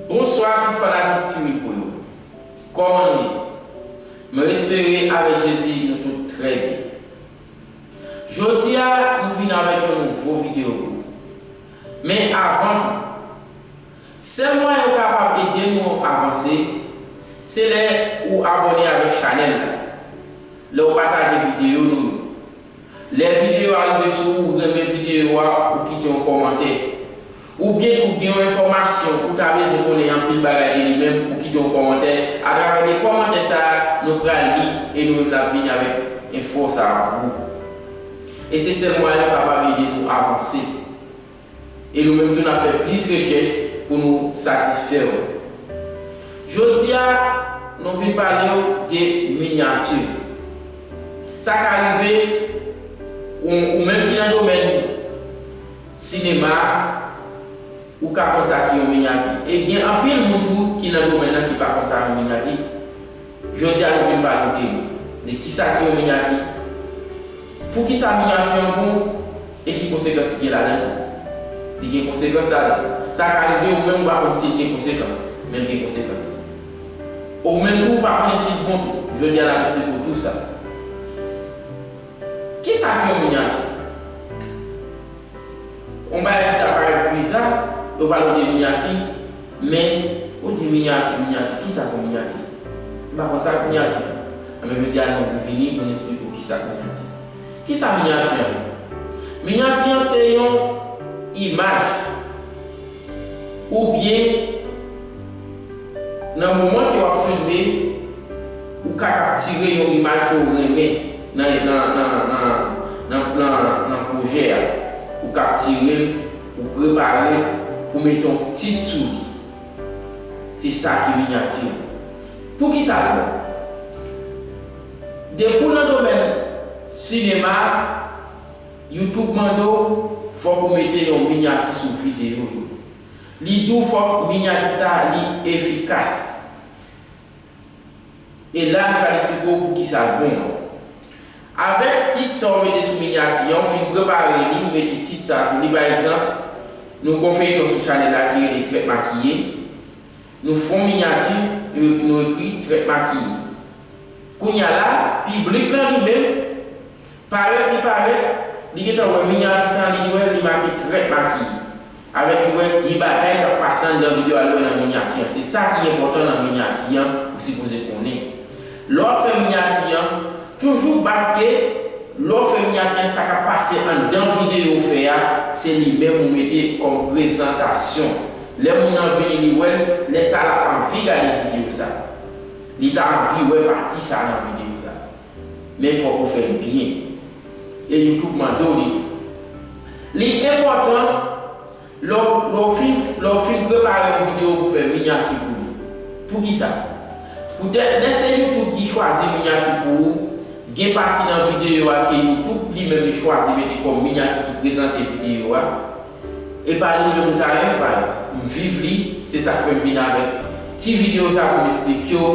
Bonswa tout fanatik ti rico yo kòman nou ye mwen espere avèk jezi nou tout trè byen jodia nou vin avèk yon nouvo video pou ou men avan tou sèl mwayen ou kapab ede nou avanse se lè ou abòne avèk chanèl la lè ou pataje video nou yo. Lè videyo a rive sou ou renmen videyo a ou kite yon kòmantè. Ou byen tou gen yon enfòmasyon ou ta bezwen konnen anpil bagay de li menm ou kite yon kòmantè atravè de kòmantè sa nou pral li e nou menm nap vini avèk enfo sa pou ou. E se sèl mwayen nou kapab ede nou avanse. E nou menm tou n ap fè plis rechèch pou nou satisfè ou. Jodi a, nou vin pale ou de minyati. Sa ka rive ou menm ki nan domèn sinema a, ou ka konn sa ki yon minyati. E gen anpil moun tou ki nan domèn nan ki pa konn sa yon minyati. Jodi a nou vin pale yon temi. Men kisa ki yon minyati? Poukisa minyati an bon? E ki konsekans ki gen ladan l tou? Li gen konsekans ladan l. Sa ka rive ou menm ou pa konn si l gen konsekans. Men l gen konsekans. Ou menm tou ou pa konnen si l bon tou. Jodi a n ap esplike w tou sa. Kisa ki yon minyati? Yon bagay ki ta parèt biza, yo pale de minyati, men ou di minyati, minyati, kisa pou minyati? M pa konn sa k minyati. Anben jodi a nou vini pou n esplike w kisa k minyati. Kisa minyati an ye? Minyati an se yon imaj. oubyen nan moman ke wap filme ou ka kaptire yon imaj ke ou renmen nan pwojè a, ou kaptirel, ou preparel pou mete yon tit sou li. Se sa ki minyati. Poukisa li bon? Depi w nan domèn sinema. Youtube mande w fòk ou mete yon minyati sou videyo yo. Li di w fòk minyati sa a li efikas. E la li pral esplike w poukisa l bon an. Avèk tit sa w mete sou minyati an, ou fin prepare li, ou mete tit sa a sou li, pa egzanp, nou gen yon feyton sou chanèl la ki rele Trèt Makiye, nou fè yon minyati, nou ekri Trèt Makiye. Kounye a la, piblik lan li menm. Parèt li parèt, li gentan wè minyati sa li wèl li make trèt makiye. Alò li wè gen bagay kap pase anndan video al wè nan minyati an se sa ki enpòtan nan minyati an ou sipoze konnen. Lè wap fè minyati an, toujou bafke lè w fè minyati an sa kap pase anndan video ou fè a se li menm ou mete kòm prezantasyon. Lè moun nan vini li wèl, lè sa lap anvi gade video sa. Li ta anvi wè pati sa nan video sa. Men fòk ou fèl byen. E YouTube mande w li tou. Li enpòtan lè w fin lè w fin prepare yon video pou fè minyati pou li. Poukisa? Poutèt lè se YouTube ki chwazi minyati pou ou, gen pati nan video a ke YouTube li menm li chwazi mete kòm minyati ki prezante video a, Epa li menm ou ta renmn bay. M viv li se sak fem vin avek ti video sa poum esplikyew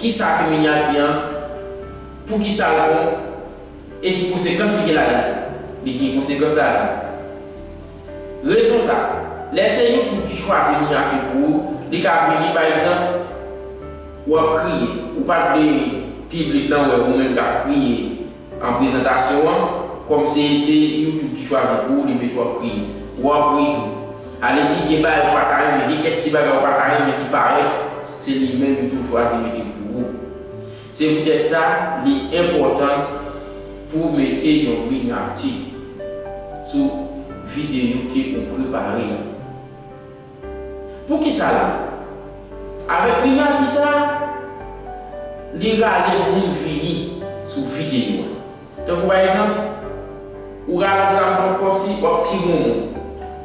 kisa ki minyati an poukisal bon e ki konsekans li gen ladann tou li gen konsekans ladann rezon sa lè se youtube ki chwazi minyati pou ou li ka vini pa egzanp wap kriye ou pat vle piblik lan wè ou menm kap kriye. An prezantasyon an, kòm se se YouTube ki chwazi pou ou li met wap kriye. Wap ri tou. Ale di gen bagay ou paka renmen, gen kèk ti bagay ou paka renmen ki parèt, se li menm yo tou chwazi mete pou ou. Se poutèt sa li enpòtan pou mete yon minyati sou videyo ke ou prepare a. Poukisa la? Avèk primati sa, li rale moun vini sou videyo a. Tankou pa egzanp, ou rale zam nan kòmsi w ap tire yon moun.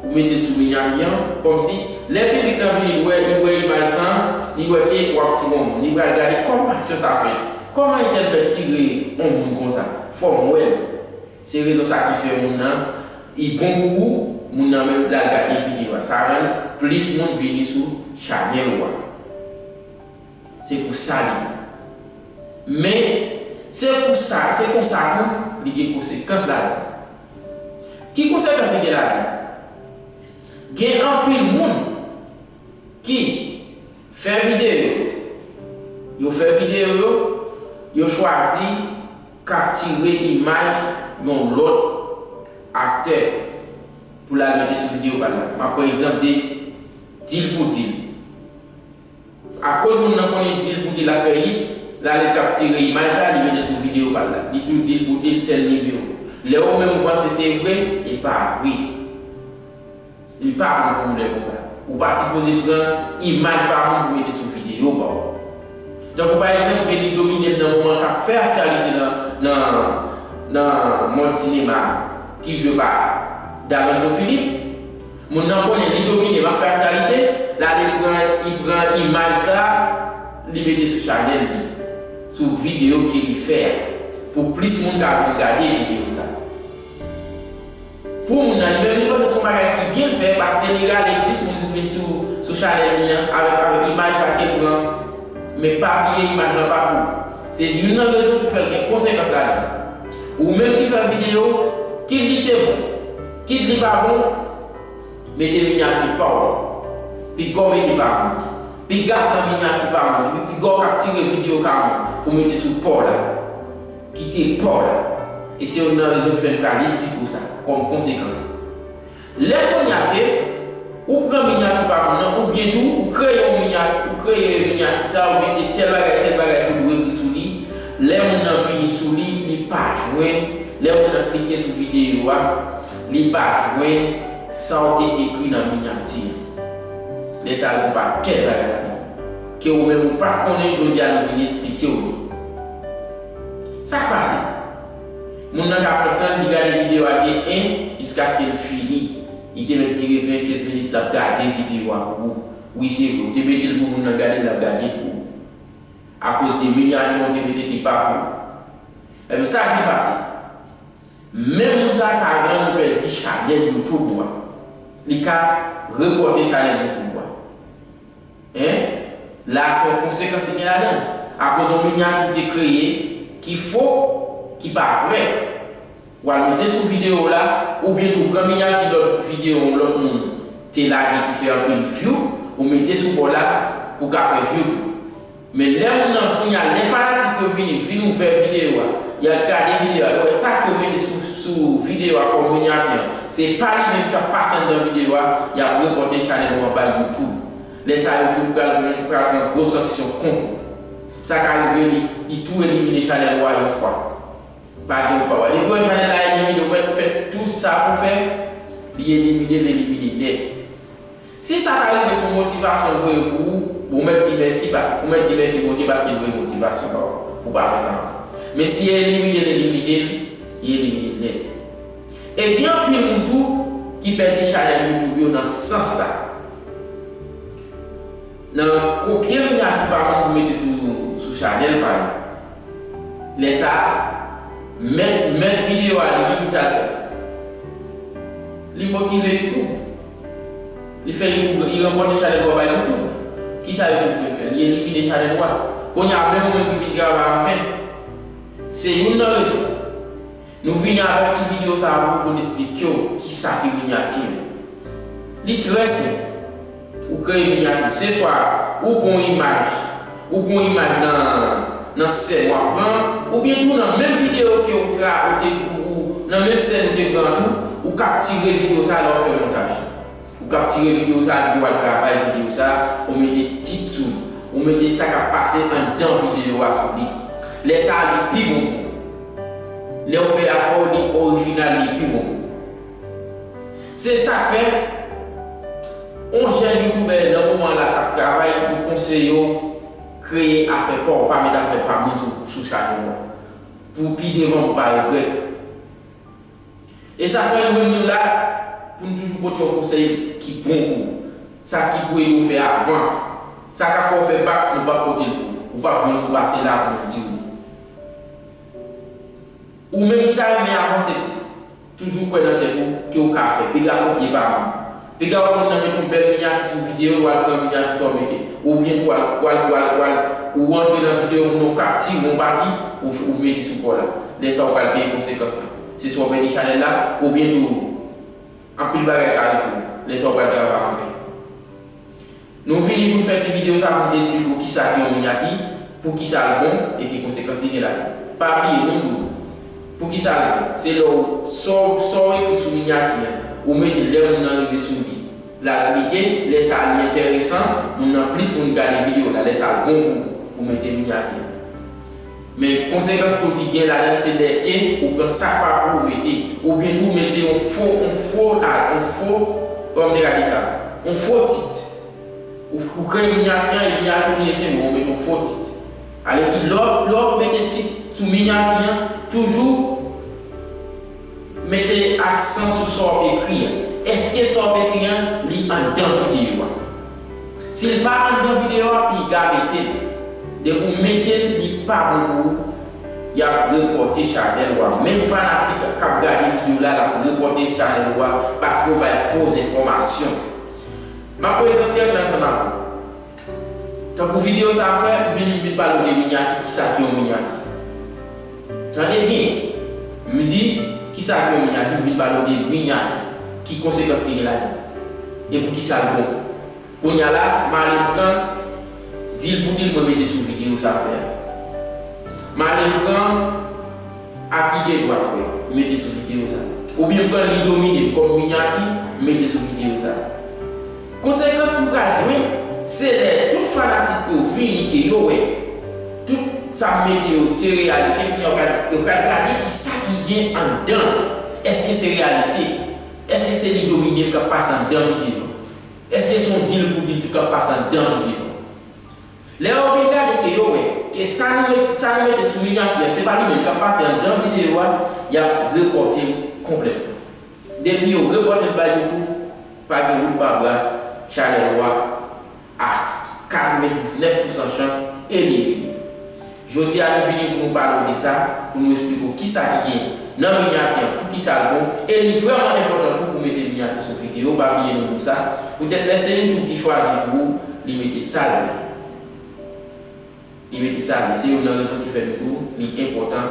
Ou mete l sou minyati an, kòmsi lè piblik lan vini l wè, li wè imaj sa, li wè ke w ap tire yon moun. Li pral gade kòman aksyon sa fèt. Kòman entèl fè tire yon moun konsa? Fò m wè l. Se rezon sa ki fè moun nan I bon pou ou moun nan menm lal gade video a sa rann plis moun vini sou chanel ou a se pou sa li bon men se pou sa se konsa tou li gen konsekans ladan ki konsekans li gen ladan gen anpil moun ki fè video yo fè video yo yo chwazi. Kaptire imaj yon lòt aktè pou l al mete sou videyo pa l la. M ap pran egzanp de Dil pou Dil. Akoz moun nan konnen Dil pou Dil ap fè yit, l ale kaptire imaj sa a li mete l sou videyo pa l la. Li tou Dil pou Dil tèl nimewo. Lè ou menm ou panse se vre, li pa vre. Li pa bon pou ou lè konsa. Ou pa sipoze pran imaj pa moun pou mete sou videyo pa w. Tankou pa egzanp Veni domine m nan moman k ap fè aktyalite nan mond sinema a ki jwe pa Daronzo Philippe. Moun nan konnen li domine m ap fè aktyalite, l ale pran imaj sa a li mete sou chanèl li, sou videyo ke li fè a pou plis moun ka vin gade videyo sa a. Pou moun nan li menm li panse son bagay ki byen fè paske li rale plis moun ki vin sou sou chanèl li an avèk avèk imaj sa kel pran men pa bliye imaj lan pa pou ou se youn nan rezon ki fèl gen konsekans ladann ou menm ki fè video kit li te bon kit li pa bon mete minyati paw pigaw mete pa moun piga pran minyati pa moun epi pigaw kaptire video ka moun pou mete sou paw la. ki te Pòl, e se youn nan rezon ki fè n pral esplike w sa, kòm konsekans. Lè kounye a ke ou pran minyati pa moun nan, oubyen tou ou kreye yon minyati, ou kreye minyati sa a, ou mete tèl bagay, tèl bagay sou li, ou ekri sou li, lè moun nan vini sou li, li pa jwenn, lè moun nan klike sou videyo a, li pa jwenn sa w te ekri nan minyati a. Lè sa a, li konn pa tèl bagay ladan l. Ke ou menm ou pa konnen jodi a nou vin esplikew li. Sak pase? Moun nan ka pran tanl li gade video a de 1 jiskaske l fini. Li te mèt dire 20 15 minit lap gade video a pou ou. Wi se vre ou te metel pou moun nan gadel lap gade pou ou. Akoz de minyatyon ou te mete ki pa pou ou. Ebyen sak vin pase? Menm moun sa ka rann ou pèdi chanèl youtube ou a. Li ka repòte chanèl youtube ou a. Hein? La a se yon konsekans li gen ladann. Akoz yon minyati ou te kreye ki fo, ki pa vrè. Ou al mete sou videyo w la, oubyen tou pran minyati lòt videyo yon lòt moun te lage ki fè anpil view, ou mete sou bò la pou ka fè view tou. Men lè moun nan, kounye a lè fanatik yo vini, vin ouvè videyo a, y ap gade videyo a, yo wè sa ke w mete sou videyo a kòm minyati an, se pa li menm k ap pase anndan videyo a, y ap repòte chanèl ou anba youtube. Lè sa yo tout pral pran pral pran gwo sanksyon kont ou. Sa ka rive li li tou elimine chanèl ou a yon fwa. Pa gen ou pa wè. Depi wè chanèl la elimine ou mèt fè tou sa pou fè li elimine l elimine nèt. Si sa ta rive son motivasyon l voye pou ou, bon ou mèt di mèsi pa ou mèt di mèsi Bondye paske l voye motivasyon ba ou pou pa fè sa ankò. Men si elimine l elimine l, li elimine l nèt. E gen anpil moun tou ki pèdi chanèl YouTube yo nan sans sa. Nan kopye minyati pa moun pou mete sou chanèl pa yo. Lè sa, mèt mèt videyo a li menm ki sa l fè? Li motive YouTube. Li fè YouTube, li ranpòte chanèl ou a bay YouTube. Ki sa YouTube menm fè? Li elimine chanèl ou a. Kounye a menm ou menm ki vin travay anfen. Se youn nan rezon. Nou vini avèk ti video sa a pou poun esplike w ki sa ki minyati yo. Li trè senp. Ou kreye minyati w. Se swa ou pran yon imaj, ou pran yon imaj nan nan sèn w ap pran an, oubyen tou nan menm video ke ou tra ou te ou nan menm sèn ou te pran an tou, ou kaptire video sa a lè w ap fè montaj. Ou kaptire video sa di wal travay video sa ou mete tit sou li ou mete sa kap pase andan video a sou li lè sa li pi bon pou ou lèw fè afèw li orijinal li pi bon pou ou se sak fè on jèn youtubè nan moman la kap travay nou konseyew kreye afè paw pa met afè pa moun sou chanèl ou an pou pi devan pou pa regrèt. E sa fè Youri nou la pou n toujou pote yon konsèy ki bon pou ou. Sa ki pou ede w fè avan. Sa k ap fè w fè bak nou p ap pote l pou ou. Ou p ap jwenn nou pase la pou nou di w li. Ou menm ki ta renmen avanse plis, toujou kwè nan tèt ou ke w ka fè. Piga kopye pa moun. Piga wap moun nan met yon bèl minyati sou video wal pran minyati sa w mete. Oubyen tou wal wal wal wal ou antre nan video moun nan ou ka tire yon pati ou ou mete sou paw la. Lè sa ou pral peye konsekans lan. Se swa w pèdi chanèl la oubyen tou anpil bagay ka rive w. Lè sa ou pral travay anfen. Nou vini pou n fè ti video sa pou n te esplike w kisa ki yon minyati, pou kisa l bon e ki konsekans li gen ladan. Pa bliye nou di w pou kisa l bon, se lè w sa w sa w ekri sou minyati an, ou mete l lè moun nan rive sou li, l al klike, lè sa li enteresan moun nan plis moun gade video w la, lè sa l bon pou w pou w mete minyati. Men konsekans pou l ki gen ladan l se lè ke ou pran sa k pa pou ou mete, oubyen tou mete yon fo, yon fo a, yon fo, kòman m te ka di sa, yon fo tit. Ou kreye minyati an e minyati ou vini sèlman ou mete yon fo tit. Alèki lè w mete tit sou minyati an, toujou. Mete aksan sou sa w ekri a. Èske sa w ekri an li anndan videyo a? Si l pa anndan videyo a, piga mete l. Depi w mete l li pa bon pou ou, y ap repòte chanèl ou a. Menm fanatik k ap gade videyo la, l ap repòte chanèl ou a paske w bay fo zenfòmasyon. M ap prezante ansanm ak ou. Tankou video sa ap fè vini m vin pale w de minyati kisa ki yon minyati tande byen m di kisa ki yon minyati m vin pale w de minyati ki konsekans li gen ladan e pou kisa l bon kounya la m ale pran dil pou dil mwen mete sou video sa ap fè a m ale pran aki de dwat mwen m mete sou video sa oubyen m pran li domine m kòm minyati m mete sou video sa. Konsekans nou pral jwenn se lè tout fanatik yo vini ke yo wè tout sa m mete yo se reyalite kounya yo pral gade kisa ki gen anndan l èske se reyalite èske se li domine l kap pase anndan videyo an èske se yon dil pou dil tou kap pase anndan videyo an lè yo vin gade ke yo wè ke sa nou mete sou minyati an se pa li menm kap pase anndan videyo a yap repòte l konplètman. Depi yo reported by YouTube pa gen wout pa bra chanel ou a a 99 pousan chans elimine. Jodi a nou vini pou nou pale w de sa, pou nou esplike w kisa ki gen nan minyati an poukisa l bon e li vrèman enpòtan tou pou mete minyati sou videyo pa bliye nou di w sa poutèt lè se YouTube ki chwazi pou ou li mete sa l vle. Li mete sa li. Se youn nan rezon ki fè nou di w li enpòtan,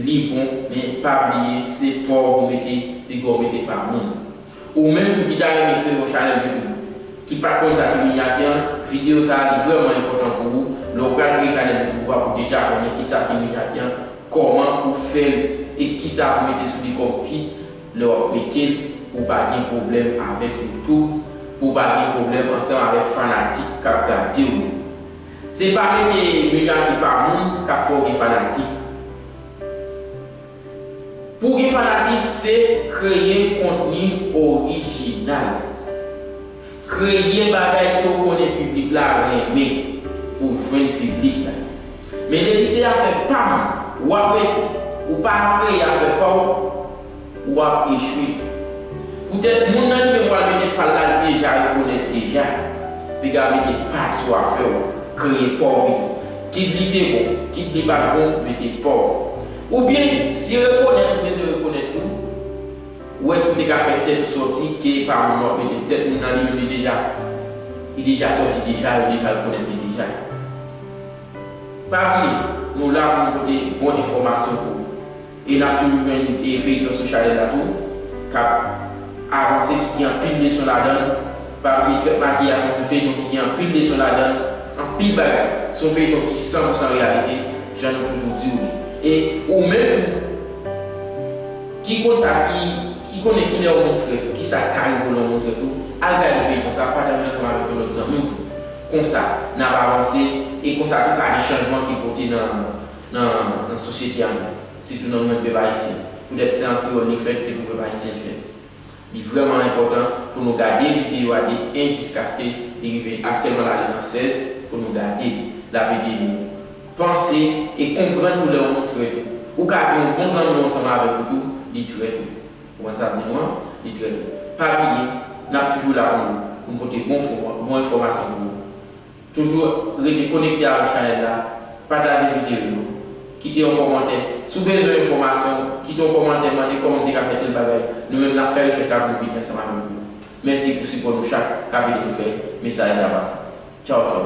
li bon, men pa bliye se pa w ou mete piga w mete pa moun. Ou menm tou ki ta renmen kreye yon chanèl YouTube, ki pa konn sa ki minyati an, videyo sa li vrèman enpòtan pou ou, lè w pral kreye chanèl YouTube ou a pou w deja konnen ki sa ki minyati an, kòman pou w fè l e ki sa pou w mete sou li kòm tit lè w ap mete l pou w pa gen pwoblèm avèk YouTube, pou w pa gen pwoblèm ansanm avèk fanatik k ap gade w yo. Se pa mete negatif a moun kap fè w gen fanatik. Pou w gen fanatik se kreye kontni orijinal. Kreye bagay ke w konnen piblik la renmen pou w jwenn piblik la. Men depi se afè pa m wap rete ou pa kreye afè pa w. Ou ap echwe. Poutèt moun nan ki gen pwal mete pal la li deja rekonèt deja. Piga mete pal sou afè w. Kreye pa w pito. Kit li te bon, kit li pat bon, mete pa w. Oubyen, si rekonèt ou bezwen rekonèt tou, wè si w te ka fè tèt ou sòti ke epa moun nan w ap mete. Poutèt moun nan li menm li deja li deja sòti deja, yo deja rekonèt li deja. Pa bliye, nou la pou nou pote bon enfòmasyon pou ou. E nap toujou jwenn e feyton sou chanèl la tou kap avanse ki gen anpil leson ladann pa bliye trèt makiyaj son fi feyton ki gen anpil leson ladann anpil bagay son feyton ki san pou san reyalite jan nou toujou diw li e ou menm tou ki konn sa ki ki konnen kilè yon moun trèt ou kisa ki ka rive w lè yon moun trèt ou al gade feyton sa pataje l ansanm avèk yon lòt zanmiw tou konsa nap avanse e konsa tou ka gen chanjman ki pote nan. nan sosyete a tou, sitou nan moman pèp ayisyen. Poutèt se an kreyòl li fèt, se pou pèp ayisyen l fèt. Li vrèman enpòtan pou nou gade videyo a de 1 jiskaske li rive aktyèlman l ale nan 16, pou nou gade l. L ap ede nou panse e konprann tou lè yon moun trèt ou. Ou ka gen yon bon zanmi ou ansanm avèk ou tou, li trèt ou. Ou konprann sa m di nou an? Li trèt ou. Pa bliye, n ap toujou la pou nou, pou n pote bon enfòmasyon pou ou. Toujou rete konekte avèk chanèl la, pataje video yo, kite yon kòmantè. Si w bezwen yon fòmasyon, kite yon kòmantè mande kòman m te ka fè tèl bagay. Nou menm n ap fè rechèch la pou n vini ansanm avèk ou. Mèsi pou sipò nou chak k ap ede nou fè mesaj la pase. Tchaw tchaw.